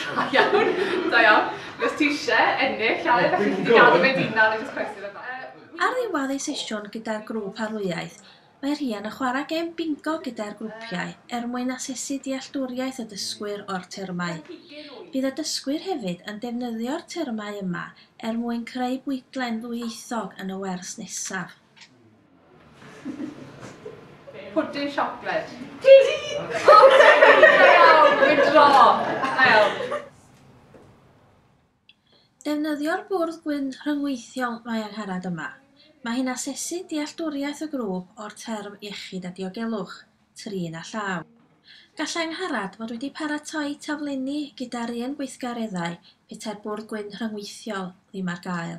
Da iawn, da iawn. Os ti isie ennill Aled, alli di gadw fe dy unan achos cwestiwn yn dda. Ar ddiwedd ei sesiwn gyda'r grŵp arlwyaeth, mae Rhian yn chwarae gêm bingo gyda'r grwpiau er mwyn asesu dealltwriaeth y dysgwyr o'r termau. Bydd y dysgwyr hefyd yn defnyddio'r termau yma er mwyn creu bwydlen ddwyieithog yn y wers nesaf. Pwdin siocled. Didi! O, Didi! Da iawn! Dwi'n dro! Da iawn. Defnyddio'r bwrdd gwyn rhyngweithiol Mae Angharad yma. Mae hi'n asesu dealltwriaeth y grŵp o'r term iechyd a diogelwch, trin a llaw. Gallai Angharad fod wedi paratoi taflenni gyda'r un gweithgareddau petai'r bwrdd gwyn rhyngweithiol ddim ar gael.